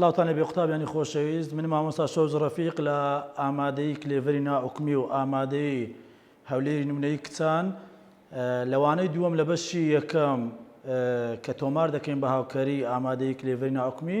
سلااوانە بێ قوتابیانی خۆشەویست من مامۆستا شەوز ڕەفیق لە ئامادەی کلێڤری ناحکمی و ئامادەی هەولێری نمونەی کچان لەوانەی دووەم لە بەشی یەکەم کە تۆمار دەکەین بە هاوکاری ئامادەی کلێڤری ناحکمی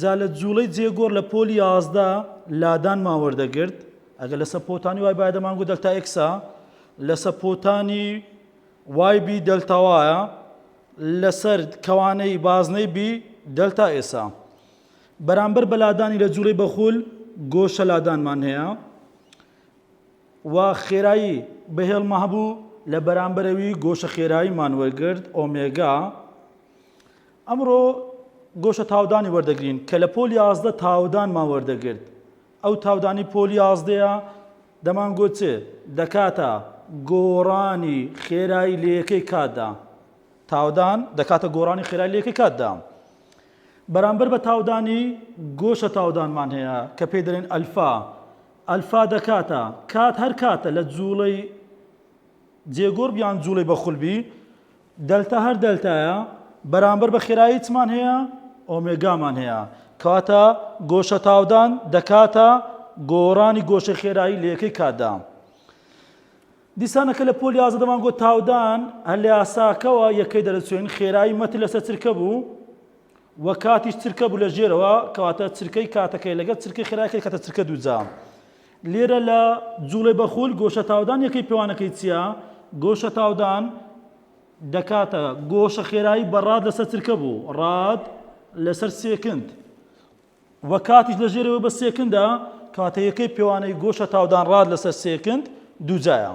جا لە جووڵەی جێگۆر لە پۆلی یازدە لادانمان وەردەگرت ئەگە لەسە پۆتانی وای باە دەمانگو دەلتا ئکسا لەسە پۆتانی وای بی دەلتاوایە لەسەر کەوانەی بازنەی بی دەلتا ئێسا بەرامبەر بە لادانی لە جووڵەی بەخول گۆشە لادانمان هەیە و خێرایی بەهێڵمە هەبوو لە بەرامبەرەوی گۆشە خێراییمان وەرگرت ئۆمێگا ئەمڕۆ گۆشە تاودانی وەردەگرین کە لە پۆل یازدە تاودانمان وەردەگرت ئەو تاودانی پۆل یازدەیە دەمانگۆت چ دەکاتە گۆڕانی خێرایی لە یەکەی کاتدا تاودان دەکاتە گۆڕانی خێرای لە یەکەی کاتدا بەرامبەر بە تاودانی گۆشە تاودانمان هەیە کە پێی دەڵێن ئەلفا ئەلفا دەکاتە کات هەر کاتە لە جوڵەی جێگۆڕ بیان جوڵەی بەخولبی دەلتا هەر دەلتایە بەرامبەر بە خێرایی چمان هەیە؟ ئۆمێگامان هەیە کەواتە گۆشە تاودان دەکاتە گۆڕانی گۆشەی خێرایی لە یەکەی کاتدا. دیسانەکە لە پۆل یازە دەمان گۆ تاودان هەر لە یاساکەوە یەکەی دەرەچوێن خێرایی مەتر لەسەر چرکە بوو و کاتیش چرکە بوو لە ژێرەوە کەواتە چرکەی کاتەکەی لەگەڵ چرکەی خێرایکەی کاتە چرکە دووجا لێرە لە جوڵێ بەخول گۆشە تاودان یەکەی پێوانەکەی چیە؟ گۆشە تاودان دەکاتە گۆشە خێرایی بە ڕاد لەسەر چرکە بوو ڕاد لەسەر سێکند و کاتیش لە ژێرەوە بە سێکندە کاتە یەکەی پێوانەی گۆشە تاودان ڕاد لەسەر سێکند دووجایە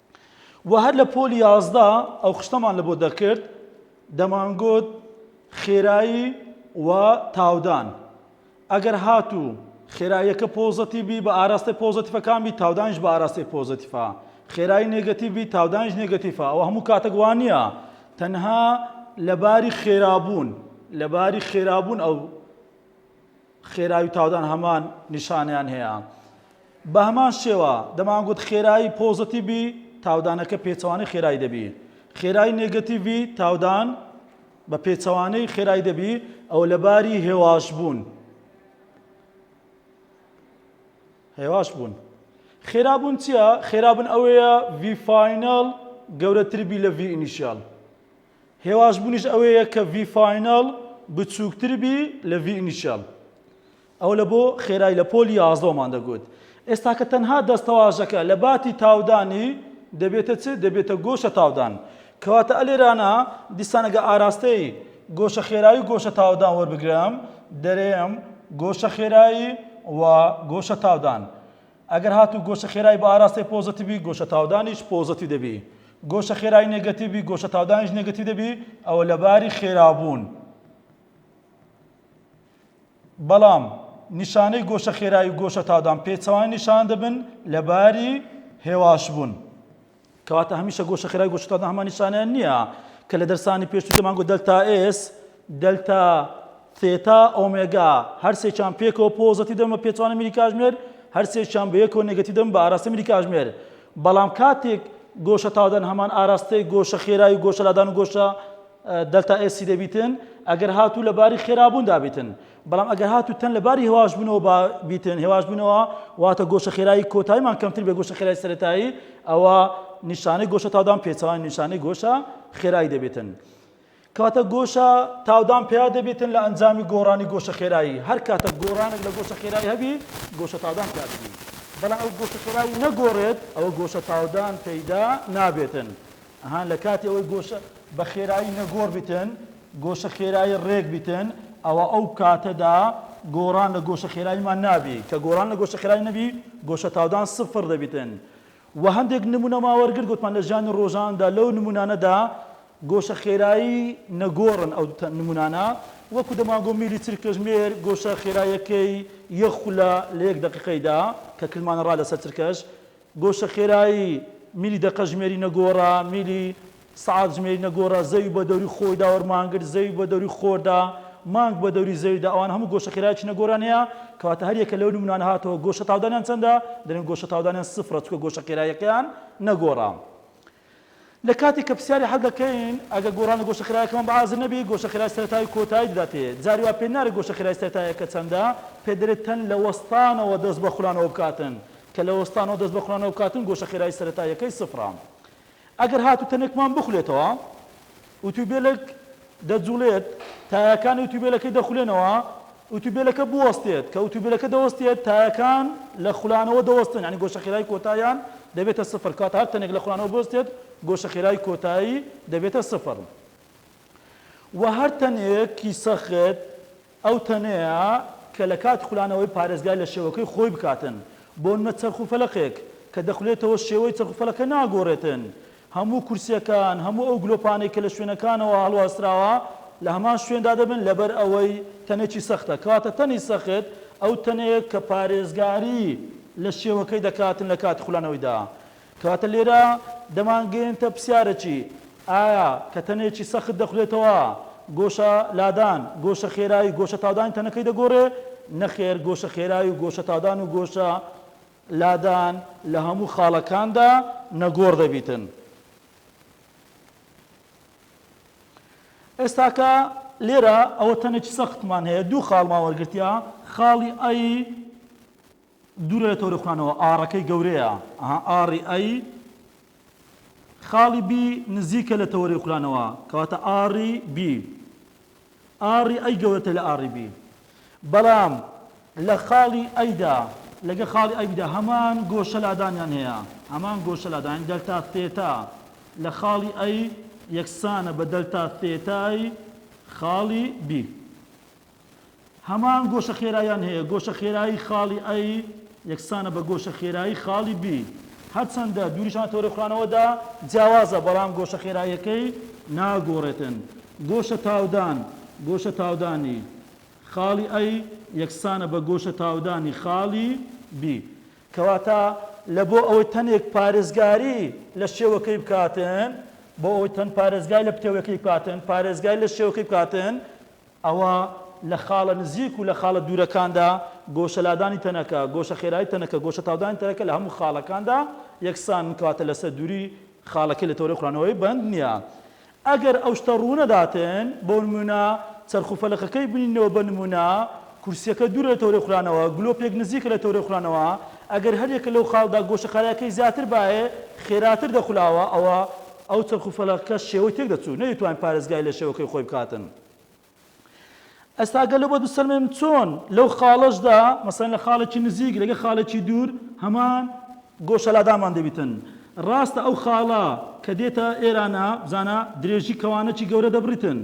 وە هەر لە پۆلی یازدە ئەو خشتەمان لە بۆ دەکرد دەمانگوت خێرایی و تاودان ئەگەر هاتوو خێراییەکە پۆزەتی بی بە ئاراستەی پۆزەتیفەکان بی تاودانش بە ئاراستەی پۆزەتیفە خێرایی نێگەتی بی تاودانش نێگەتیفە ئەوە هەموو کاتەک وان نییە تەنها لەباری خێرابوون لەباری خێرابوون ئەو خێرایی و تاودان هەمان نیشانەیان هەیە. بە هەمان شێوە، دەمانگوت خێرایی پۆزەتیڤی تاودانەکە پێچەوانەی خێرایی دەبی. خێرایی نێگەتیڤی تاودان بە پێچەوانەی خێرایی دەبی، ئەوە لە باری هێواش بوون. هێواش بوون. خێرا بوون چییە؟ خێرا بوون ئەوەیە ڤی فاینەڵ گەورەتر بی لە ڤی ئینیشیاڵ. هێواشبوونیش ئەوەیە کە ڤی فاینەڵ بچووکتر بی لە ڤی ئینیشیەڵ. ئەوە لە بۆ خێرای لە پۆلی یازدەوەمان دەگوت. ئێستاکە تەنها دەستەواژەکە لە باتی تاودانی دەبێتە چ؟ دەبێتە گۆشە تاودان. کەواتە ئەلێرانە دیسان ئەگە ئاراستەی گۆشە خێرایی و گۆشە تاودان وەربگرم، دەرێم گۆشە خێرایی و گۆشە تاودان. ئەگەر هاتوو گۆشە خێرای بە ئاراستەی پۆزەتیڤ بی گۆشە تاودانیش پۆزەتیڤ دەبی، گۆشە خێرای نێگەتیڤ بی گۆشە تاودانیش نێگەتیڤ دەبی ئەوە لە باری خێرابوون. بەڵام نیشانەی گۆشە خێرای و گۆشە تاودان پێچەوانەی نیشان دەبن لە باری هێواشبوون. کەواتە هەمیشە گۆشە خێرای گۆشەکان هەمان نیشانەیان نییە کە لە دەرسانی پێشوو تێمانگۆ دەلتا ئێس دەلتا ثێتا ئۆمێگا هەرسێکیان پێکەوە پۆزەتی دەم بە پێچوانە میری کاژمێر هەرسێکیان بە یەکەوە نێگەتی دەم بە ئاراستە میری کاژمێر بەڵام کاتێک گۆشە تاودان هەمان ئاراستەی گۆشە خێرای و گۆشە لادان و گۆشە دەلتا ئێسی دەبیتن ئەگەر هاتوو لە باری خێرابوون دابیتن بەڵام ئەگەر هاتوو تەن لە باری هێواشبوونەوە با بیتن هێواشبوونەوە واتە گۆشە خێرایی کۆتایمان کەمتر بێ گۆشە خێرای سەتایی ئەوە نیشانەی گۆشە تادان پێچوان نیشانەی گۆشە خێرایی دەبێتن کاتە گۆشە تاودان پیا دەبێتن لە ئەنجامی گۆڕانی گۆشە خێرایی هەر کاتە گۆڕانێک لە گۆشە خێرایی هەبی گۆشە تادان پیا دەبی بەڵام ئەو گۆشە خێرایی نەگۆڕێت ئەوە گۆشە تاودان پەیدا نابێتن ئەهان لە کاتی ئەوەی گۆشە بە خێرایی نەگۆڕ بتن گۆشە خێرایی ڕێک بتن ئەوە ئەو کاتەدا گۆڕان لە گۆشە خێراییمان نابی کە گۆڕان لە گۆشە خێرایی نەبی گۆشە تاودان سفر دەبیتن و هەندێک نمونەما وەرگر گوتمان لە ژیانی ڕۆژاندا لەو نمونانەدا گۆشە خێرایی نەگۆڕن ئەو نمونانە وەکو دەمانگۆ میلی چل کەژمێر گۆشە خێرایەکەی یەخولە لە یەک دقیقەیدا کە کلمانە ڕا لەسەر چرکەش گۆشە خێرایی میلی دەقە ژمێری نەگۆڕە، میلی سەعات ژمێری نەگۆڕە، زەوی بە دەوری خۆیدا وەرمانگرت، زەوی بە دەوری خۆردا، مانگ بە دەوری زەویدا، ئەوان هەموو گۆشە خێرایەکی نەگۆڕیان هەیە، کەواتە هەر یەکە لەو نمونانە هاتەوە گۆشە تاودانیان چەندە؟ دەلێن گۆشە تاودانیان سفرە چونکە گۆشە خێراییەکەیان نەگۆڕە. لە کاتێک کە پرسیاری حەل دەکەین، ئەگەر گۆڕان لە گۆشە خێرایەکەمان بە ئازر نەبێت، گۆشە خێرای سەرەتایی و کۆتایی دەداتێ. جاری وا پێ نارێت گۆشە خێرای سەرەتاییەکە چەندە، پێ دەرێت تەن لە وەستانەوە دەست بە خولانەوە بکاتن. کە لە وەستانەوە دەست بە خولانەوە بکاتن، گۆشە خێرای سەرەتاییەکەی سفرە. ئەگەر هاتوو تەنێکمان بخولێتەوە، ئوتوبێلەک دەجوڵێت، تایەکانی ئوتوبێلەکەی دەخولێنەوە، ئوتوبێلەکە بوەستێت، کە ئوتوبێلەکە دەوەستێت تایەکان لە خولانەوە دەوەستن یانی گۆشە خێرای کۆتاییان دەبێتە سفر کەواتە هەر تەنێک لە خولانەوە بوەستێت گۆشە خێرای کۆتایی دەبێتە سفر وە هەر تەنێکی سەخت ئەو تەنەیە کە لە کاتی خولانەوەی پارێزگای لە شێوەکەی خۆی بکاتن، بۆنمونە چەرخ و فەلەقێک کە دەخولێتەوە شێوەی چەرخ و فەلەقە ناگۆرێتن، هەموو کورسیەکان، هەموو ئەو گلۆپانەی کە لە شوێنەکانەوە هەڵواسراوە لە هەمان شوێندا دەبن لەبەر ئەوەی تەنێکی سەختە، کەواتە تەنی سەخت ئەو تەنەیە کە پارێزگاری لە شێوەکەی دەکاتن لە کاتی خولانەوەیدا، کەواتە لێرە دەمانگەیەنتە پرسیارەکی، ئایا کە تەنێکی سەخت دەخورێتەوە، گۆشە لادان، گۆشە خێرایی و گۆشە تاودانی تەنەکەی دەگۆڕێ؟ نەخێر، گۆشە خێرایی و گۆشە تاودان و گۆشە لادان لە هەموو خاڵەکاندا نەگۆڕ دەبیتن. ئێستاکە لێرە ئەوە تەنێکی سەختمان هەیە، دوو خاڵمان وەرگرتیە، خاڵی ئەی، دوورە لە تۆری خوێنەوە ئاڕەکەی گەورەیە ئەها ئاڕی ئەی خاڵی بی نزیکە لە تەوەری خولانەوە کەواتە ئاڕی بی ئاڕی ئەی گەورەتە لە ئاڕی بی بەڵام لە خاڵی ئەیدا لەگە خاڵی ئەیدا هەمان گۆشە لادانیان هەیە هەمان گۆشە لادان دەلتا تێتا لە خاڵی ئەی یەکسانە بە دەلتا تێتای خاڵی بی هەمان گۆشە خێراییان هەیە، گۆشە خێرایی خاڵی A یەکسانە بە گۆشە خێرایی خاڵی B، هەرچەندە دووریشان لە تەوەرەی خورانەوەدا جیاوازە، بەڵام گۆشە خێراییەکەی ناگۆڕێتن. گۆشە تاودان، گۆشە تاودانی خاڵی A یەکسانە بە گۆشە تاودانی خاڵی B. کەواتە لە بۆ ئەوەی تەنێک پارێزگاری لە شێوەکەی بکاتن، بۆ ئەوەی تەن پارێزگای لە پتەوەکەی بکاتن، پارێزگای لە شێوەکەی بکاتن، ئەوا لە خاڵە نزیک و لە خاڵە دوورەکاندا گۆشەلادانی تەنەکە، گۆشەخێرایی تەنەکە، گۆشەتاودانی تەنەکە لە هەموو خاڵەکاندا یەکسانن، کەواتە لەسەر دووریی خاڵەکەی لە تەوەرەی خورانەوەی بەند نییە. ئەگەر ئەو شتە ڕوو نەداتن، بۆ نموونە چەرخ و فەلەقەکەی بنینەوە بە نموونە، کورسییەکە دوورە لە تەوەرەی خورانەوە، گلۆپێک نزیکە لە تەوەرەی خورانەوە، ئەگەر هەر یەکە لەو خاڵدا گۆشەخارایەکەی زیاتر بایێ، خێراتر دەخولاوە، ئەوا ئەو چەرخ و فەلەقەکە شێوەی تێک دەچوو، نەدەیتوانی پارێزگاری لە شێوەکەی خۆی بکاتن. ئەستا گەلۆ بۆ بسەلمێن چۆن لەو خاڵەشدا مەسەن لە خاڵێکی نزیک لەگە خاڵێکی دوور هەمان گۆشەلادامان دەبیتن ڕاستە ئەو خاڵە کە دێتە ئێرانە بزانە درێژی کەوانەکی گەورە دەبریتن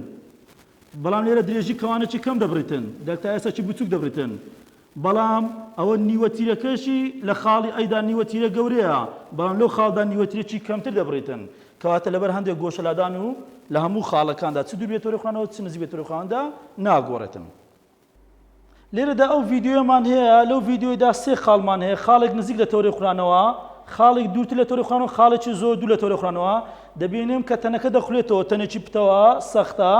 بەڵام لێرە درێژی کەوانەکی کەم دەبریتن دەلتا ئێسەکی بچوک دەبریتن بەڵام ئەوە نیوە تیرەکەشی لە خاڵی ئەی دا نیوە تیرە گەورەیە، بەڵام لەو خاڵدا نیوە تیرەکی کەمتر دەبڕیتن، کەواتە لەبەر هەندێک گۆشەلادان و لە هەموو خاڵەکاندا چ دوور بێت تۆرەی خوانەوە چ نزیک بێت تۆرەی خواندا ناگۆڕێتن. لێرەدا ئەو ڤیدیۆیەمان هەیە، لەو ڤیدیۆیدا سێ خاڵمان هەیە، خاڵێک نزیک لە تۆرەی خورانەوە، خاڵێک دوورتر لە تۆرەی خورانەوە، خاڵێکی زۆر دوور لە تۆرەی خورانەوە، دەبینم کە تەنەکە دەخولێتەوە، تەنێکی پتەوە، سەختە،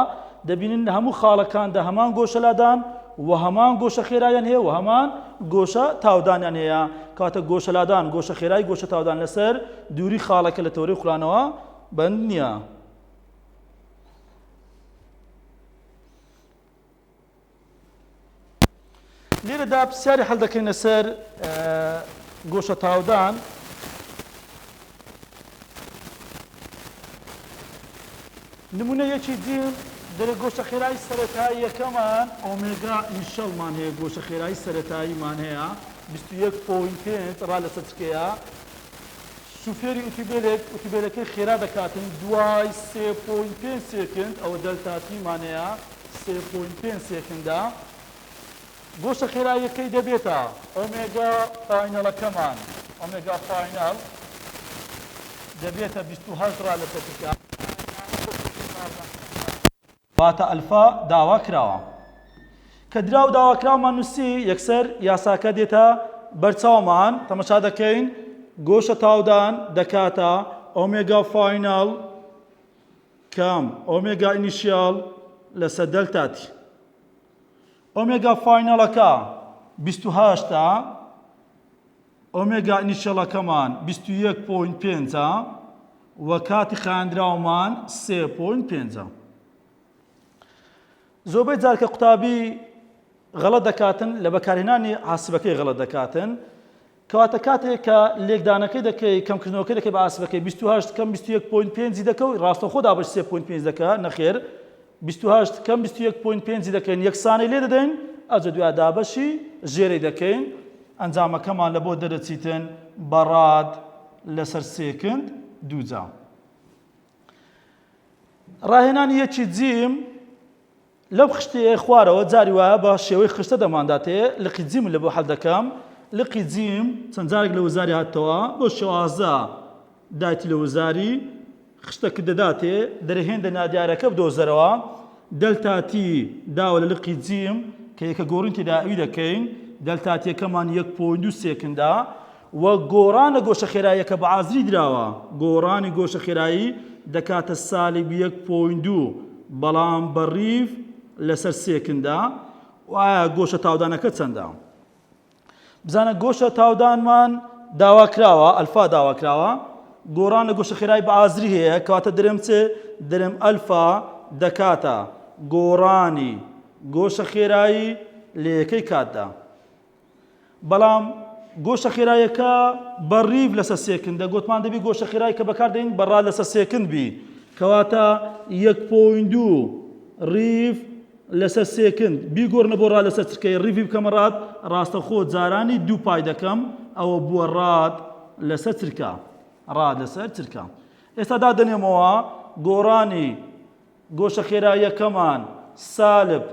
دەبینن لە هەموو خاڵەکان دا هەمان گۆشە لادان و هەمان گۆشە خێرایان هەیە و هەمان گۆشە تاودانیان هەیە، کەواتە گۆشە لادان، گۆشە خێرای، گۆشە تاودان لەسەر دووری خاڵەکە لە تەوەرەی خولانەوە بەند نییە. لێرەدا پرسیاری حەل دەکەینە سەر گۆشە تاودان نمونە یەکی دیم دەرە گۆشە خێرایی سەرەتایی یەکەمان ئۆمێگا ئینشەڵمان هەیە گۆشە خێرایی سەرەتاییمان هەیە 21.5 ڕا لەسەر چکەیە شوفێری ئوتوبێلێک ئوتوبێلەکەی خێرا دەکاتن دوای سێ پۆینت پێنج سێکند ئەوە دەلتا تی مانەیە سێ پۆینت پێنج سێکندە گۆشە خێراییەکەی دەبێتە ئۆمێگا فاینەڵەکەمان ئۆمێگا فاینەڵ دەبێتە 28 را لەسەر تکە فاتە ئەلفا داوا کراوە. کە دراو داواکراومان نووسی، یەکسەر یاساکە دێتە بەر چاومان، تەمەشا دەکەین، گۆشە تاودان دەکاتە ئۆمێگا فایناڵ کام ئۆمێگا ئینیشیاڵ لەسەر دەلتا تی. ئۆمێگا فایناڵەکە بیست و هەشت ە. ئۆمێگا ئینیشیەڵەکەمان بیست و یەک پۆینت پێنج ە و کاتی خایاندراومان سێ پۆینت پێنج ە. زۆربەی جار کە قوتابی غەڵەت دەکاتن لە بەکارهێنانی عاسبەکەی غەڵەت دەکاتن کەواتە کاتێک کە لێکدانەکەی دەکەی کەمکردنەوەکە دەکەی بە ئاسبەکەی 28 کەم 21.5 دەکەوت ڕاستەخۆ دابش 3.5 دەکە نەخێر بیست و هەشت کەم بیست و یەک پۆینت پێنجی دەکەین یەکسانی لێ دەدەین ئەوجە دوای دابەشی ژێرەی دەکەین ئەنجامەکەمان لە بۆ دەرەچیتن بە ڕاد لەسەر سێکند دووجا ڕاهێنانی یەکی جیم لەو خشتەیە خوارەوە جاری وایە بە شێوەی خشتە دەمانداتێ لقی جیم لە بۆ حەل دەکەم لقی جیم چەند جارێک لە وزاری هاتەوە بۆ شێوازە دایتی لە وزاری خشتە ک دەداتێ دەرەهێندە نادیارەکە بدۆزەرەوە، دەلتا تی، داوە لە لقی جیم کە یەکە گۆڕین تێداوی دەکەین، دەلتا تیەکەمان یەک پۆینت دوو سێکندە و گۆڕانە گۆشە خێراییەکە بە ئازری دراوە، گۆڕانی گۆشە خێرایی دەکاتە سالب یەک پۆینت دوو بەڵام بە ریڤ لەسەر سێکندە و ئایا گۆشە تاودانەکە چەندە؟ بزانە گۆشە تاودانمان داواکراوە ئەلفا داواکراوە گۆڕان لە گۆشە خێرای بە ئازری هەیە کەواتە درم چ درم ئەلفا دەکاتە گۆڕانی گۆشە خێرایی لە یەکەی کاتدا بەڵام گۆشە خێرایەکە بە ڕیف لەسە سێکندە گوتمان دەبی گۆشە خێرای کە بەکاردەین بەڕا لەسە سێکند بی کەواتە یەک پۆین دوو ڕیف لەسەر سێکند بیگۆرنە بۆ ڕا لەسەر چرکەی ڕیڤی بکەمە ڕات ڕاستەخۆ جارانی دوو پای دەکەم ئەوە بووە ڕات لەسەر چرکە ڕات لەسەر چرکە ئێستا دادەنێمەوە گۆڕانی گۆشە خێراییەکەمان سالب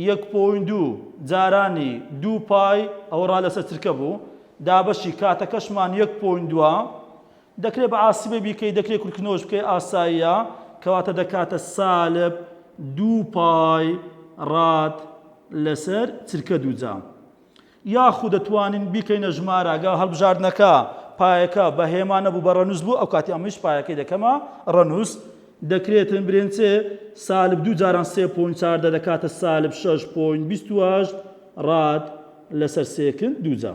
یەک پۆین دوو جارانی دوو پای ئەوە ڕا لەسەر چرکە بوو دابەشی کاتەکەشمان یەک پۆین دووە دەکرێت بە ئاسیبێ بیکەی دەکرێت کورتکردنەوەش بکەی ئاساییە کەواتە دەکاتە سالب دوو پای ڕاد لەسەر چرکە دووجا یاخود دەتوانین بیکەینە ژماراگە هەڵبژاردنەکە پایەکە بە هێما نەبوو بە ڕەنووس بوو ئەو کاتی ئەمەش پایەکەی دەکەمە ڕەنووس دەکرێتن برێنچێ سالب دوو جاران سێ پوین چاردە دەکاتە سالب شش پوین بیست ڕاد لەسەر سێکن دووجا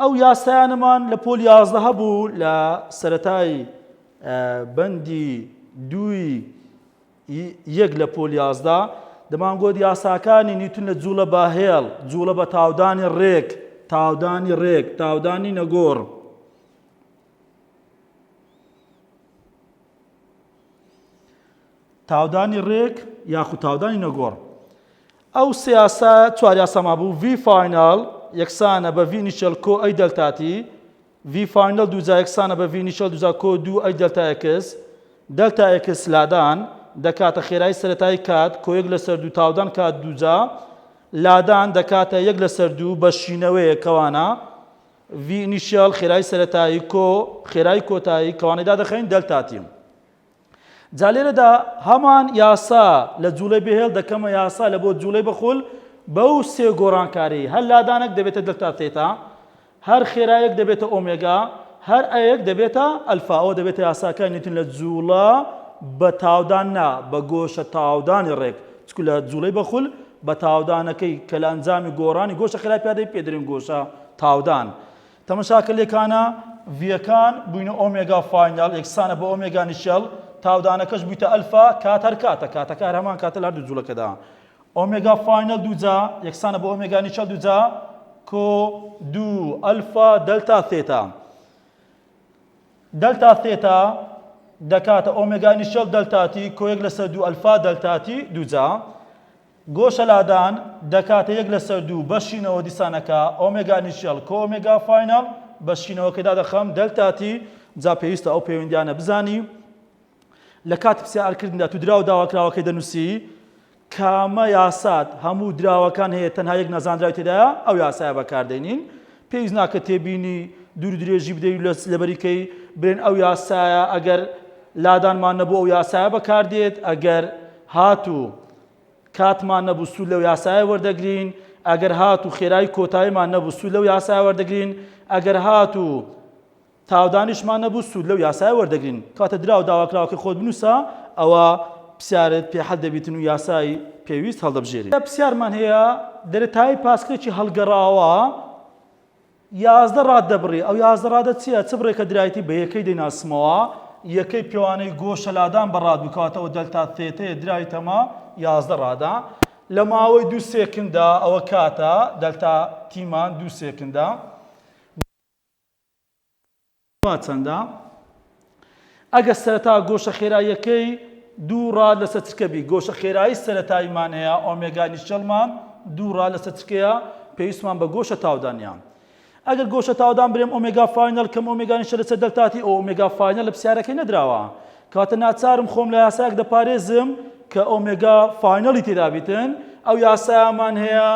ئەو یاسایانەمان لە پۆل یازدە هەبوو لە سەرەتای بەندی دووی یەک لە پۆل یازدە دەمانگوت یاساکانی نیوتن لە جوڵە بە هێڵ جوڵە بە تاودانی ڕێک تاودانی ڕێک تاودانی نەگۆڕ تاودانی ڕێک یاخود تاودانی نەگۆڕ ئەو سێ یاسا چوار یاساما بوو ڤی فاینال یەکسانە بە ڤی نیشەل کۆ ئەی دەلتاتی ڤی فاینال دووجا یەکسانە بە ڤی نیشەل دووجا کۆ دوو ئەی دەلتا ئێکس دەلتا ئێکس لادان دەکاتە خێرایی سەتای کات کۆیەک لەسەر دوو تاودان کات دووجا لادان دەکاتە یەک لەسەر دوو بە شینەوەیە کەوانە ڤی ئینیشیال خێرای سەتایی کۆ خێرای کۆتایی کەوانەدا دەخەین دەلتاتیم جا لێرەدا هەمان یاسا لە جوڵەی بێهێڵ دەکەمە یاسا لە بۆ جوڵەی بەخول بەو سێ گۆڕانکاری هەر لادانێک دەبێتە دلتا تێتا هەر خێرایەک دەبێتە ئۆمێگا هەر ئەیەک دەبێتە ئەلفاەوە دەبێتە یاساکە نیتن لە جوڵە بە تاودان نا بە گۆشە تاودانی ڕێک چکو لە جوڵەی بەخول بە تاودانەکەی کە لە ئەنجامی گۆڕانی گۆشە خراپیادەی پێدرین گۆشە تاودان. تەمەشاکە لێکانە ڤییەکان بوینە ئۆمێگا فاینەڵ یەکسانە بە ئۆمێگا نیشێڵ تاودانەکەش بویتە ئەلفا کات هەر کاتە کاتەکە هەر هەمان کاتە لە هەردوو جوڵەکەدا ئۆمێگا فاینەڵ دووجا یەکسانە بە ئۆمێگا نیشێڵ دووجا کۆ دوو ئەلفا دەلتا ثێتا دەلتا ثێتا دەکاتە ئۆمێگا نیشێڵ دەلتاتی کۆیەک لەسەر دوو ئەلفا دەلتاتی دووجا گۆشەلادان دەکاتە یەک لەسەر دوو بە شینەوە دیسانەکە ئۆمێگا ئنیشیەڵ کۆ ئۆمێگا فاینەڵ بە شینەوەکەی دادەخەم دەلتا تی جا پێویستە ئەو پەیوەندیانە بزانی لە کاتی پسیار کردندا تو دراو داواکراوەکەی دەنووسی کامە یاسات هەموو دراوەکان هەیە تەنها یەک نەزانراوی تێدایە ئەو یاسایە بەکاردێنین پێویست ناکە تێبینی دوور درێژی بدەی لە لەبەریکەی برێن ئەو یاسایە ئەگەر لادانمان نەبوو ئەو یاسایە بەکاردێت ئەگەر هاتوو کاتمان نەبوو سوود لەو یاسایە وەردەگرین، ئەگەر هاتوو خێرایی کۆتایمان نەبوو سوود لەو یاسایە وەردەگرین، ئەگەر هاتوو تاودانیشمان نەبوو سوود لەو یاسایە وەردەگرین. کەواتە دراو داواکراوەکەی خۆت بنووسە، ئەوە پرسیارت پێ حەل دەبیتن و یاسای پێویست هەڵدەبژێریت. پرسیارمان هەیە، دەرەتایی پاسکلێکی هەڵگەڕاوە یازدە ڕاد دەبڕی، ئەو یازدە ڕادە چییە؟ چ بڕێکە درایتی بە یەکەی دەیناسمەوە؟ یەکەی پێوانەی گۆشە لادان بە ڕاد بوو، کەواتە ئەوە دەلتا ثێتەیە، درای تەمە یازدە ڕادە. لە ماوەی دوو سێکندا، ئەوە کاتە، دەلتا تیمان دوو سێکندا. وا چەندە؟ ئەگەر سەرەتا گۆشە خێراییەکەی دوو ڕاد لەسەر چرکە بی، گۆشە خێرایی سەرەتاییمان هەیە، ئۆمێگا ئینیشیەڵمان دوو ڕاد لەسەر چرکەیە، پێویستمان بە گۆشە تاودانیان. ئەگەر گۆشە تاودان برێم ئۆمێگا فاینەڵ کەم ئۆمێگا ئینیشیەڵ لەسەر دەلتا تی، ئەو ئۆمێگا فاینەڵ لە پرسیارەکەی نەدراوە. کەواتە ناچارم خۆم لە یاسایەک دەپارێزم کە ئۆمێگا فاینەڵی تێدا بیتن، ئەو یاسایەمان هەیە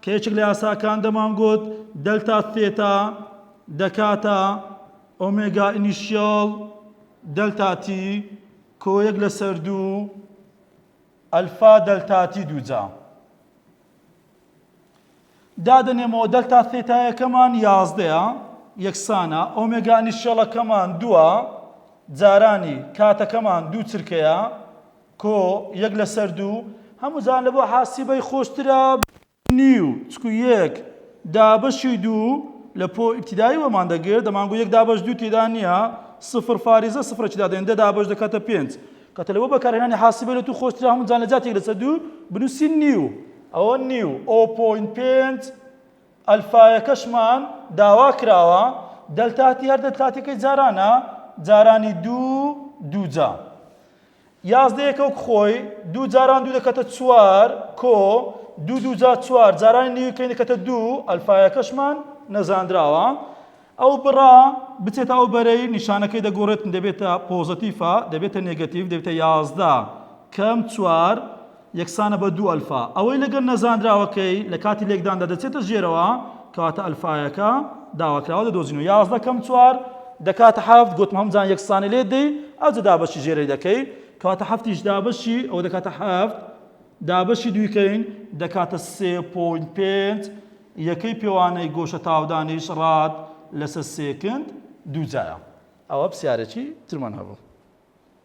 کە یەکێک لە یاساکان دەمانگوت دەلتا ثێتا دەکاتە ئۆمێگا ئینیشیاڵ دەلتا تی کۆیەک لەسەر دوو ئەلفا دەلتا تی دووجا دادەنێمەوە دەلتا ثێتایەکەمان یازدەیە یەکسانە ئۆمێگا ئینیشیاڵەکەمان دووە جارانی کاتەکەمان دوو چرکەیە کۆ یەک لەسەر دوو هەموو جان لە بۆ حاسیبەی خۆشترە نیو، چکو یەک، دابەشی دوو، لە پۆ ئیبتیدایی وەرمان دەگرت دەمانگوت یەک دابەش دوو تێدا نییە، سفر فاریزە سفرەکی دادەنێت دە دابەش دەکاتە پێنج، کەتە لە بۆ بەکارهێنانی حاسبە لە تو خۆشترە هەموو جان لە جاتی یەک لەسەر دوو بنووسین نیو. ئەوە نیو ئۆ پۆینت پێنج، ئەلفایەکەشمان داوا کراوە، دەلتاتی هەر دەلتاتیەکەی جارانە، جارانی دوو، دووجا. یازدە یەکەوک خۆی، دوو جاران دوو دەکاتە چوار، کۆ، دوو دوو جار چوار، جارانی نیویکەی دەکاتە دوو، ئەلفایەکەشمان نەزانراوە. ئەو بڕە بچێتە ئەو بەرەی نیشانەکەی دەگۆڕێت، دەبێتە پۆزەتیفە، دەبێتە نێگەتیڤ، دەبێتە یازدە کەم چوار، یەکسانە بە دوو ئەلفا. ئەوەی لەگەڵ نەزانراوەکەی لە کاتی لێکداندا دەچێتە ژێرەوە، کەواتە ئەلفایەکە داواکراوە دەدۆزینەوە. یازدە کەم چوار دەکاتە حەفت، گوتم هەمووجان یەکسانی لێ دەی، ئەوجە دابەشی ژێرەی دەکەی، کەواتە حەفتیش دابەشی ئەوە دەکاتە حەفت، دابەشی دوویکەین دەکاتە سێ پۆینت پێنج، یەکەی پێوانەی گۆشە تاودانیش ڕاد لەسەر سێکند دووجایە. ئەوە پرسیارێکی ترمان هەبوو.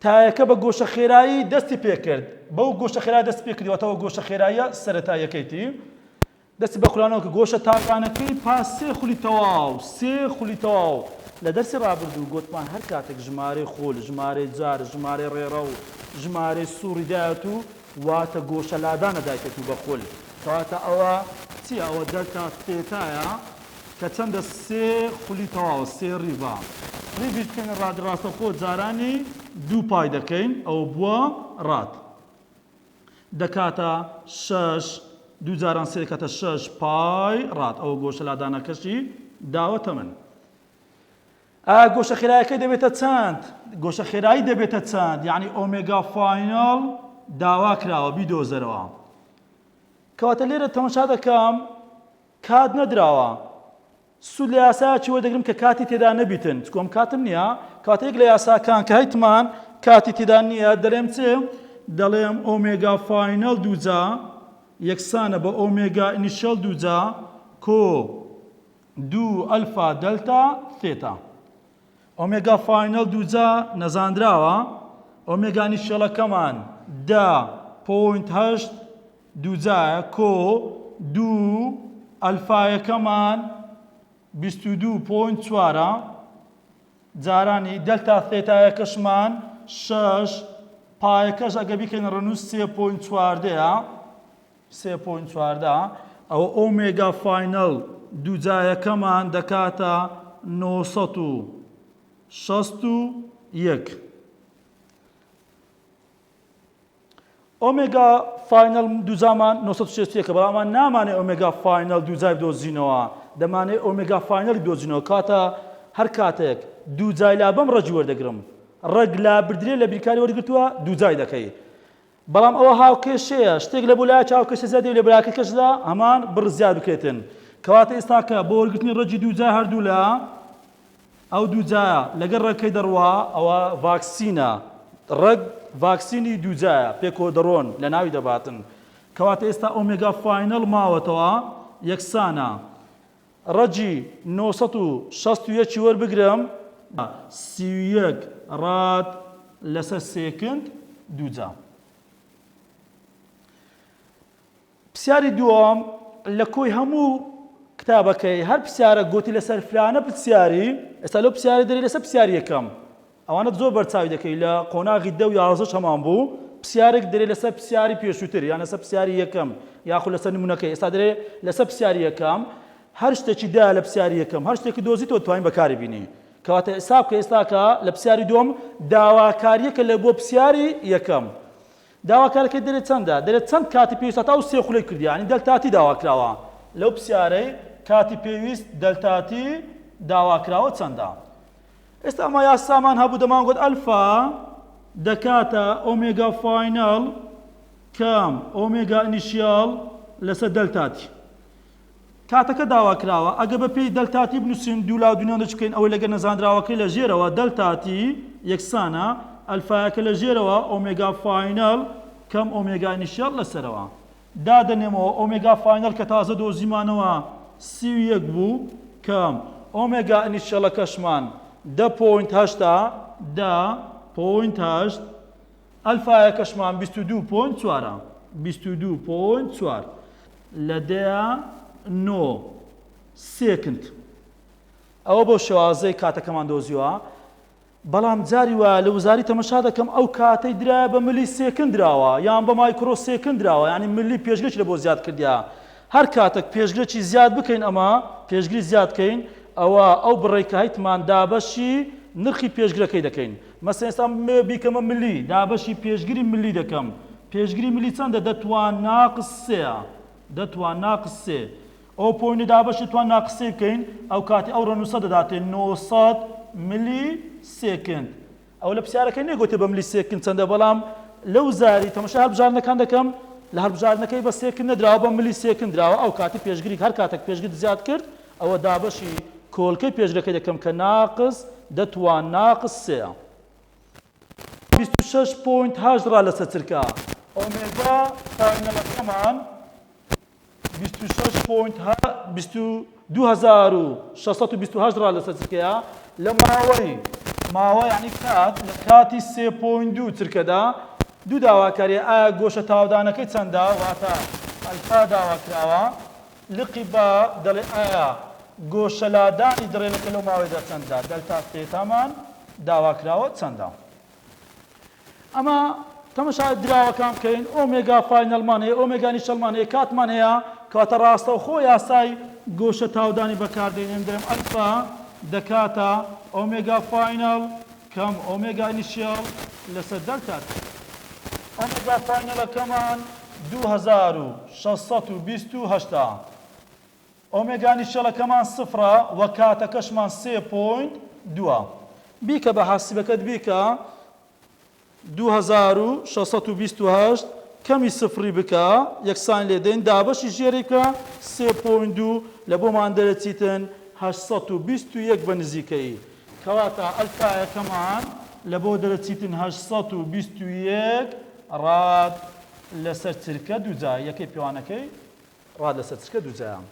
تایەکە بە گۆشە خێرایی دەستی پێکرد، بەو گۆشە خێرایە دەستی پێکردی واتە ئەوە گۆشە خێراییە سەرەتاییەکەیتی، دەستی بە خولانەوە کرد، گۆشە تاکانەکەی پاس سێ خولی تەواو، سێ خولی تەواو، لە دەرسی ڕابردوو گۆتمان هەر کاتێک ژمارەی خول، ژمارەی جار، ژمارەی ڕێڕەو، ژمارەی سوڕی دایەتوو، واتە گۆشە لادانە دایکەت و بەخول. کەواتە ئەوە چیە ئەوە دەرتا ستێتایە کە چەندە سێ خولی تەواوە سێ ڕیڤا ڕیڤیش بکەینە ڕادی ڕاستەخۆ جارانی دوو پای دەکەین ئەوە بووە ڕاد دەکاتە شەش دوو جاران سێ دەکاتە شەش پای ڕاد ئەوە گۆشە لادانەکەشی داوەتە من ئا گۆشە خێرایەکەی دەبێتە چەند؟ گۆشە خێرایی دەبێتە چەند یەعنی ئۆمێگا فاینەڵ داوا کراوە بیدۆزەرەوە کەواتە لێرە تەمەشا دەکەم کات نەدراوە سوود لە یاسایەکی وەدەگرم کە کاتی تێدا نەبیتن چکۆم کاتم نییە کاتە یەک لە یاساکان کە هیتمان کاتی تێدا نییە دەلێم چ دەڵێم ئۆمێگا فاینەڵ دووجا یەکسانە بە ئۆمێگا ئینیشەڵ دووجا کۆ دوو ئەلفا دەلتا ثێتا ئۆمێگا فاینەڵ دووجا نەزانراوە ئۆمێگا نیشتێڵەکەمان دە پۆینت هەشت دووجایە کۆ دوو ئەلفایەکەمان بیست و دوو پۆینت چوارە جارانی دەلتا ثێتایەکەشمان شەش پایەکەش ئەگە بیکەین ڕەنووس سێ پۆینت چواردەیە سێ پۆینت چواردە، ئەوە ئۆمێگا فاینەڵ دووجایەکەمان دەکاتە نۆ سەد و شەست و یەک. ئۆمێگا فاینەڵ دووجامان نۆ سەد و شەست و یەکە، بەڵام ئەمان نامانێ ئۆمێگا فاینەڵ دووجای بدۆزینەوە، دەمانەوێ ئۆمێگا فاینەڵی بدۆزینەوە، کاتە هەر کاتێک دووجای لابەم ڕەگی وەردەگرم، ڕەگ لابردرێ لە بیرکاری وەرگرتووە دووجای دەکەی. بەڵام ئەوە هاوکێشەیە شتێک لە بۆ لایەک هاوکێشە زیاد دەبێت لە براکەی کەسدا هەمان بڕ زیاد بکرێتن کەواتە ئێستاکە بۆ وەرگرتنی ڕەجی دووجا هەردوولا ئەو دووجایە لەگەر ڕەکەی دەڕوا ئەوە ڤاکسینە ڕەگ ڤاکسینی دووجایە پێکەوە دەڕۆن لە ناوی دەباتن کەواتە ئێستا ئۆمێگا فاینەڵ ماوەتەوە یەکسانە ڕەگی نۆ سەد و شەست و یەک وەربگرم. سی و یەک ڕاد لەسەر سێکند دووجا. پسیاری دووەم لە کۆی هەموو کتابەکەی هەر پسیارە گۆتی لەسەر فلانە پسیاری ئێستا لەو پسیارە دەری لەسەر پسیاری یەکەم ئەوانت زۆر بەرچاوی دەکەی لە قۆناغی دە و یازدەش هەمان بوو پسیارێک دەرێ لەسەر پسیاری پێشووتر یان لەسەر پسیاری یەکەم یاخود لەسەر نمونەکەی ئێستا دەرێ لەسەر پسیاری یەکەم هەر شتێکی دا لە پسیاری یەکەم هەر شتێکی دۆزی تۆ توانین بەکاری بینی کەواتە حساب کە ئێستاکە لە پسیاری دوم داواکاریەکە لە بۆ پسیاری یەکەم داواکارەکە دەرێت چەندە دەرێت چەند کاتی پێویستە تا و سێ خولەی کردیانی دەلتاتی داواکراوە لەو پسیارەی کاتی پێویست دەلتاتی داواکراوە چەندە ئێستا ئەمە یاسامان هەبوو دەمانگوت ئەلفا دەکاتە ئۆمێگا فاینەڵ کام ئۆمێگا ئینیشیاڵ لەسەر دەلتاتی کاتەکە داوا کراوە ئەگە بە پێی دەلتاتی بنووسین دوو لا دونیان دەچ بکەین ئەوەی لەگە نەزانراوەکەی لە ژێرەوە دەلتاتی یەکسانە ئەلفایەکە لە ژێرەوە ئۆمێگا فاینەڵ کەم ئۆمێگا ئینیشیاڵ لەسەرەوە دادەنێمەوە ئۆمێگا فاینەڵ کە تازە دۆزیمانەوە سی و یەک بوو کە ئۆمێگا ئنیشیەڵەکەشمان دە پۆینت هەشت ە دە پۆینت هەشت ئەلفایەکەشمان بیست و دوو پۆینت چوار ە بیست و دوو پۆینت چوار لە دەیە نۆ سێکند ئەوە بۆ شێوازەی کاتەکەمان دۆزیوە بەڵام جاری وایە لە وزاری تەمەشا دەکەم ئەو کاتەی درایە بە ملی سێکن دراوە یان بە مایکرۆ سێکن دراوە یانی ملی پێشگرێکی لەبۆ زیاد کردیە هەر کاتەک پێشگرێکی زیاد بکەین ئەمە پێشگری زیاد کەین ئەوە ئەو بڕەی کە هەیتمان دابەشی نرخی پێشگرەکەی دەکەین مەسەن ئێستا مێ بیکەمە ملی دابەشی پێشگری ملی دەکەم پێشگری ملی چەندە دە توان ناقس سێە دە توان ناقس سێ ئەو پۆینتە دابەشی توان نا قسەی بکەین ئەو کاتی ئەو ڕەنوسە دەداتێ نۆ سەد ملی سێکند. ئەوە لە پرسیارەکە نەگۆتێ بە ملی سێکند چەندە بەڵام لە وزاری تەمەشای هەڵبژاردنەکان دەکەم لە هەڵبژاردنەکەی بە سێکند نەدراوە بە ملی سێکند دراوە ئەو کاتی پێشگری هەر کاتەک پێشگرت زیاد کرد ئەوە دابەشی کۆلکەی پێشگەکەی دەکەم کە ناقس دە توان ناقس سێە. بیست و شەش پۆینت هەشت ڕا لەسە چرکە ئۆمێگا فاینەلەکەمان. بیست و شەش پۆینت ها بیست و دوو هەزار و شەست و بیست و هەشت ڕا لەسەر چرکەیە لە ماوەی ماوە یعنی کات لە کاتی سێ پۆینت دوو چرکەدا دوو داواکاری ئایا گۆشە تاودانەکەی چەندە واتە ئەلفا داوا کراوە لقی با دەڵێ ئایا گۆشە لادانی دڕێنەکە لەو ماوەیدا چەندە دەلتا تێتامان داوا کراوە چەندە ئەمە تەمەشای دراوەکان بکەین ئۆمێگا فاینەڵمان هەیە ئۆمێگا نیشەڵمان هەیە کاتمان هەیە کەواتە ڕاستەوخۆ یاسای گۆشە تاودانی بەکاردێنێن دەم ئەلفا دەکاتە ئۆمێگا فاینەڵ کەم ئۆمێگا نیشەڵ لەسەر دەلتا ئۆمێگا فاینەڵەکەمان 2628 ئۆمێگا نیشتەڵەکەمان سفرە وە کاتەکەشمان سێ پۆینت دووە بیکە بە حاسیبەکەت بیکە دوو هەزار و شەش سەد و بیست و هەشت کەمی سفری بکە یەکسانی لێ دەین دابەشی ژێری بکە سێ پۆینت دوو لە بۆمان دەرەچیتن هەشت سەد و بیست و یەک بە نزیکەیی کەواتە ئەلفایەکەمان لە بۆ دەرەچیتن هەشت سەد و بیست و یەک ڕاد لەسەر چرکە دووجا یەکەی پێوانەکەی ڕا لە سەرچکە دووجایان.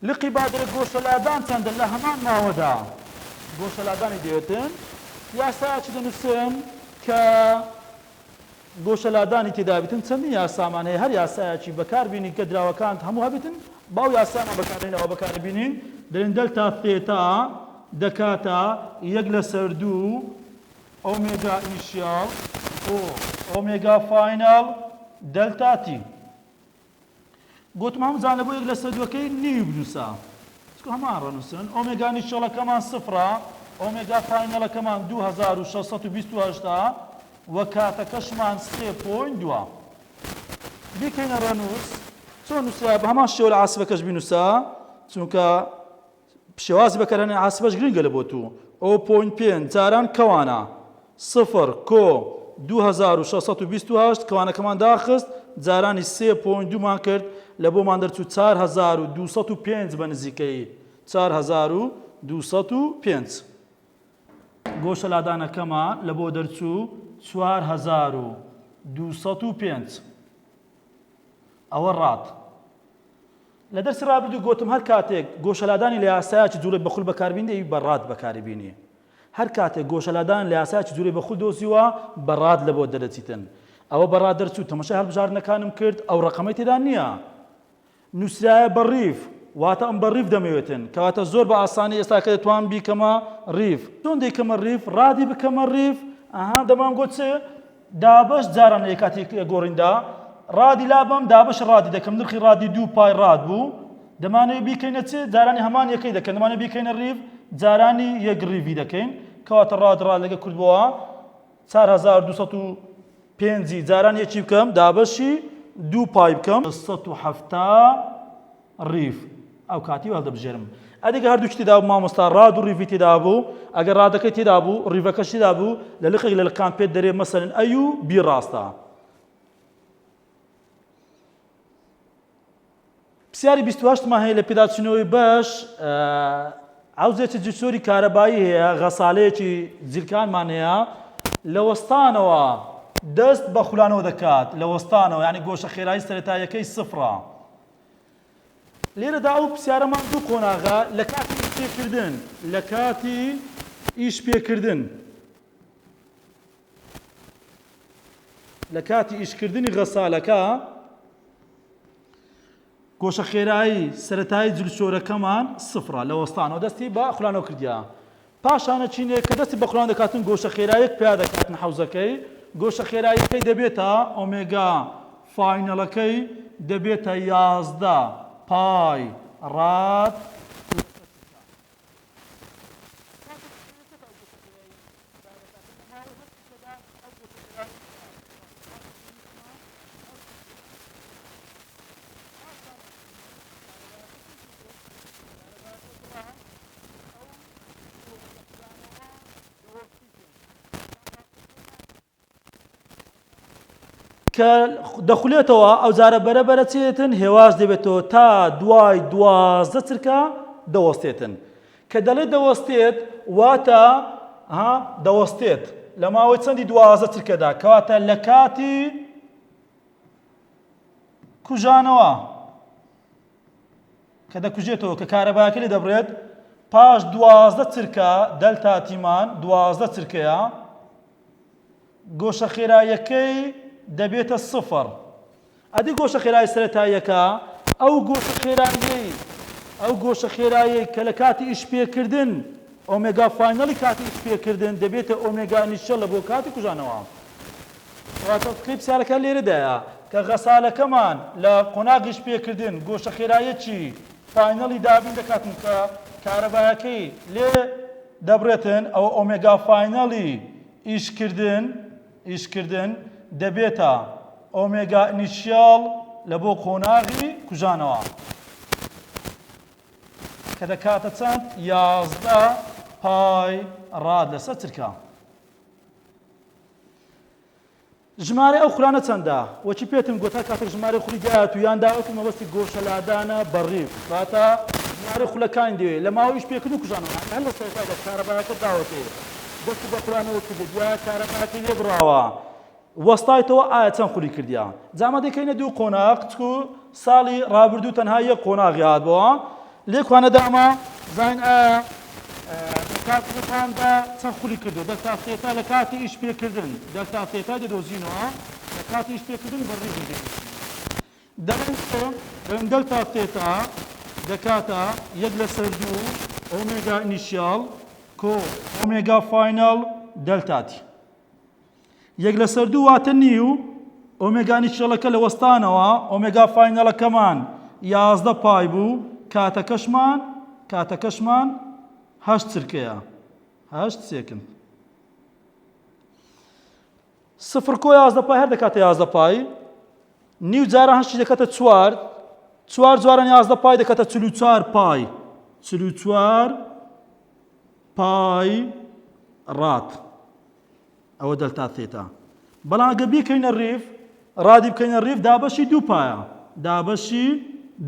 لقی بادرە گۆشەلادان چەندە لە هەمان ماوەدا گۆشەلادانی دەوێتن؟ یاسایەکی دەنووسن کە گۆشەلادانی تێدا بێتن، چەندین یاسامان هەیە، هەر یاسایەکی بەکار بینین کە دراوەکانت هەموو هەبێتن، با ئەو یاسایەمان بەکار بێنین، ئەوە بەکار بینین، دەڵێن دەلتا ثێتا دەکاتە یەک لەسەر دوو ئۆمێگا ئینیشیاڵ بۆ ئۆمێگا فایناڵ دەلتا تی. گۆتم هەموو جانە بۆ یەک لەسەر دووەکەی نیوی بنووسە چکو هەمان ڕەنووسن ئۆمێگا نیشتێڵەکەمان سفرە ئۆمێگا فاینەڵەکەمان دوو هەزار و شەش سەد و بیست و هەشت ە وە کاتەکەشمان سێ پۆین دووە بیکەینە ڕەنووس چۆن نووسرا بە هەمان شێوە لە عاسفەکەش بینووسە چونکە پشێوازی بە کەرەنەی عاسبەش گرنگە لە بۆ توو. ئۆ پۆینت پێنج جاران کەوانە. سفر کۆ دوو هەزار و شەش سەد و بیست و هەشت کەوانەکەمان داخست، جارانی سێ پۆینت دوو مان کرد، لە بۆمان دەرچوو چار هەزار و دوو سەد و پێنج بە نزیکەیی چار هەزار و دوو سەد و پێنج. گۆشە لادانەکەمان لە بۆ دەرچوو چوار هەزار و دوو سەد و پێنج. ئەوە ڕات. لە دەرسی ڕابردوو گۆتم هەر کاتێک گۆشە لادانی لە یاسایەکی جووڵەی بە خول بەکار بینی دەبی بە ڕاد بەکاری بینی هەر کاتێک گۆشە لادان لە یاسایەکی جووڵەی بە خول دۆزیوە بە ڕاد لە بۆ دەرەچیتن ئەوە بە ڕاد دەرچوو تەمەشای هەڵبژاردنەکانم کرد ئەو ڕەقەمەی تێدا نییە نووسرایە بە ڕیف واتە ئەم بە ڕیف دەمەوێتن کەواتە زۆر بە ئاسانی ئێستا کە دەتوان بیکەمە ڕیف چۆن دەیکەمە ڕیف ڕادی بکەمە ڕیف ئەها دەمان گۆت چ دابەش جاران لەکاتی گۆڕیندا ڕادی لابەم دابەش ڕادی دەکەم نرخی ڕادی دوو پای ڕاد بوو دەمانەوێت بیکەینە چ جارانی هەمان یەکەی دەکەن دەمانە بیکەینە ڕیڤ جارانی یەک ڕیڤی دەکەین کەواتە ڕاد ڕاد لەگە کردبووە 1950 جاران یەکی بکەم دابەشی دوو پای بکەم 1970 ڕیڤ، ئەوکاتی وهەڵدەبژێرم ئەدیگە هەردووکی تێدابوو مامۆستا، ڕاد و ڕیڤی تێدابوو، ئەگەر ڕادەکەی تێدابوو ڕیڤەکەش تێدابوو لە لقێک لە لقەکان پێت دەرێ مەسەلەن ئەی و بی ڕاستە. پسیاری بیست و هەشت مان هەیە لە پێداچوونەوەی بەش عوزێکی جسۆری کارەبایی هەیە غەسالەیەکی جلکانمان هەیە لە وەستانەوە دەست بە خولانەوە دەکات لە وەستانەوە یعنی گۆشە خێرایی سەرەتاییەکەی سفرە لێرەدا ئەو پرسیارەمان دوو قۆناغە لە کاتی ئیش پێکردن لە کاتی ئیش پێکردن لە کاتی ئیشکردنی غەسالەکە گۆشە خێرایی سەتایی جلسۆرەکەمان سفرە لە وەستانەوە دەستی بە خولانەوە کردیا پاشانە چینێک کە دەستی بە خوران دەکاتن گۆشە خێرایەک پیا دەکاتن حەوزەکەی، گۆشە خێراییەکەی دەبێتە ئۆمێگا، فاینەڵەکەی دەبێتە یازدە پای ڕاد لەسەر تکا. کاتێک چینەکە سەرەتای گۆشە خێراییەکەی پیا دەکاتن، هاوڕێ هەست کە دەخولێتەوە ئەو جارە بەرە بەرە چێتن هێواش دەبێتەوە تا دوای دوازدە چرکە دەوەستێتن کە دەڵێت دەوەستێت واتە ها دەوەستێت لە ماوەی چەندی دوازە چرکەدا کەواتە لە کاتی کوژانەوە کە دەکوژێتەوە کە کارەباکە لێ دەبرێت پاش دوازدە چرکە دەلتا تیمان دوازدە چرکەیە گۆشە خێرایەکەی دەبێتە سفر ئەدی گۆشە خێرای سەرەتاییەکە؟ ئەو گۆشە خێراییەی ئەو گۆشە خێراییەی کە لە کاتی ئیش پێکردن ئۆمێگا فاینەڵی کاتی ئیش پێکردن دەبێتە ئۆمێگا ئینیشیەڵە بۆ کاتی کوژانەوە. کەواتە فکرەی پرسیارەکە لێرەدایە کە غەسالەکەمان لە قۆناغی ئیش پێکردن گۆشە خێراییەکی فاینەڵی دابین دەکاتن کە کارەبایەکەی لێ دەبڕێتن ئەوە ئۆمێگا فاینەڵی ئیش کردن ئیشکردن دەبێتە ئۆمێگا ئنیشیاڵ لە بۆ قۆناغی کوژانەوە کە دەکاتە چەند یازدە پای ڕاد لەسەر چرکە ژمارە ئەو خولانە چەندە وەکی پێتم گوتا کاتێک ژمارە خولی دایەت و یان داوەت و مەبەستی گۆشە لادانە بەڕیف واتە ژمارە خولەکان دێ لە ماوەیش پێکرد و کوژانەوە هەر لە سەرتادا کارەبایەکە داوەتێ دەستی بە خورانەوە کردووە گوایە کارەبایەکەی لێ بڕاوە وەستایتەوە ئایا چەند خولی کردیە جا ئەمە دەکەینە دوو قۆناغ چکو ساڵی ڕابردوو تەنها یەک قۆناغی هاتبەوە لێکوانە داما زین ئایا کاتەکان بە چەند خولی کردو دەستا سێتا لە کاتی ئیش پێکردن دەستا سێتا دەدۆزینەوە لە کاتی ئیش پێکردن بەڕیزی دەکەین دەنگۆ رەنگەل تا تێتا دەکاتە یەک لەسەر دوو ئۆمێگا ئینیشیاڵ کۆ ئۆمێگا فایناڵ دەلتا تی. یەک لەسەر دوو واتە نیو ئۆمێگا ئینیشیەڵەکە لە وەستانەوە ئۆمێگا فاینەڵەکەمان یازدە پای بوو کاتەکەشمان کاتەکەشمان هەشت چرکەیە هەشت سێکند. سفر کۆ یازدە پای هەر دەکاتە یازدە پای نیو جاران هەشتی دەکاتە چوار چوار جواران یازدە پای دەکاتە چل و چوار پای چل و چوار پای ڕات ئەوە دەلتا تێتا بەڵام گە بیکەینە ڕیف ڕادی بکەینە ڕیف دابەشی دوو پایە دابەشی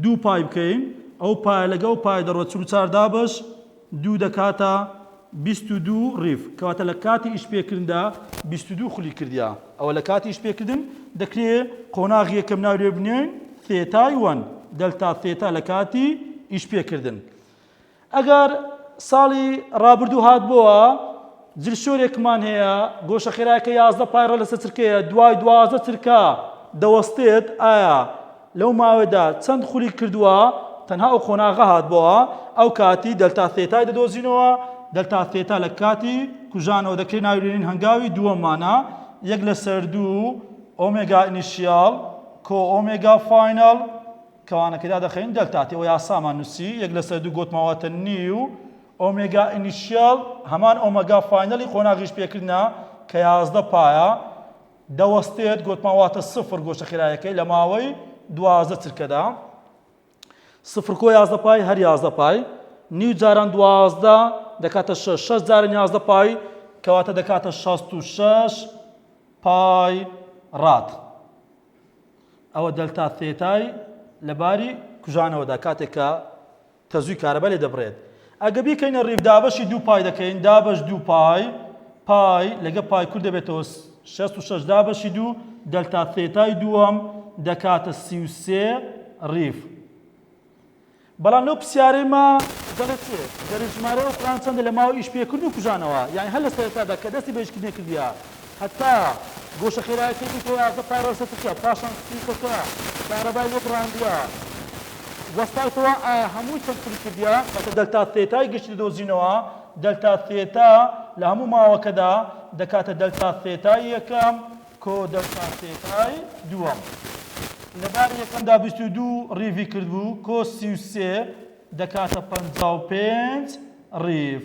دوو پای بکەین ئەو پای لەگەڵ پای دەڕۆ چ چار دابش دوو دەکاتە بیست و دوو ریڤ کەواتە لە کاتی ئیش پێکردندا بیست و دوو خولی کردیە ئەوە لە کاتی ئیش پێکردن دەکرێ قۆناغی یەکەم ناوی لێ بنێین ثێتای وەن دەلتا ثێتا لە کاتی ئیش پێکردن ئەگەر ساڵی ڕابردوو هات بۆوە جلشۆرێکمان هەیە گۆشە خێراکە یازدە پایڕە لەسەر چرکەیە دوای دوازدە چرکە دەوەستێت ئایا لەو ماوەدا چەند خولی کردووە، تەنها ئەو قۆناغە هاتبۆوە ئەو کاتی دەلتا ثێتای دەدۆزینەوە، دەلتا ثێتا لە کاتی کوژانەوە دەکرێ ناوی لێنین هەنگاوی دووەممانە، یەک لەسەر دوو ئۆمێگا ئینیشیاڵ کۆ ئۆمێگا فایناڵ کەوانەکەی دادەخەین دەلتا تی وە یاسامان نووسی یەک لەسەر دوو گۆتمەوەتە نیو ئۆمێگا ئینیشیاڵ هەمان ئۆمەگا فاینەڵی قۆناغیش پێکردنە کە یازدە پایە دەوەستێت گۆتمان واتە سفر گۆشە خێرایەکەی لە ماوەی دوازدە چرکەدا سفر کۆ یازدە پای هەر یازدە پای نیو جاران دوازدە دەکاتە شەش شەش جارن یازدە پای کەواتە دەکاتە شەست و شەش پای ڕات ئەوە دەلتا تێتای لەباری کوژانەوەدا کاتێکە کە زووی کارەبا لێ دەبڕێت. ئەگە بیکەینە ڕیڤ دابەشی دوو پای دەکەین، دابەش دوو پای، پای، لەگە پای کورت دەبێتەوە شەست و شەش دابەشی دوو دەلتا ثێتای دووەم دەکاتە سی و سێ ڕیڤ. بەڵام لەو پرسیارەی ما دەڵێت چێ دەرێژمارەی ئەو کوڕان چەندە لە ماوەی ئیش پێکردن و کوژانەوە یانی هەر لە سەرەتادا کە دەستی بە ئیش کردنێ کردیە هەتا گۆشە خێرایەکەی بوویتە یازدە پارێزە تکیە پاشان سپیتە کە کارەبای لێ بڕاندیە وەستایتەوە ئایا هەمووی چەکتری کردیە؟ واتە دەلتا ثێتای گشتی دەدۆزینەوە، دەلتا ثێتا لە هەموو ماوەکەدا دەکاتە دەلتا ثێتای یەکەم کۆ دەلتا ثێتای دووەم. لە باری یەکەمدا بیست و دوو ڕیڤی کردبوو کۆ سی و سێ دەکاتە پەنجا و پێنج ڕیڤ.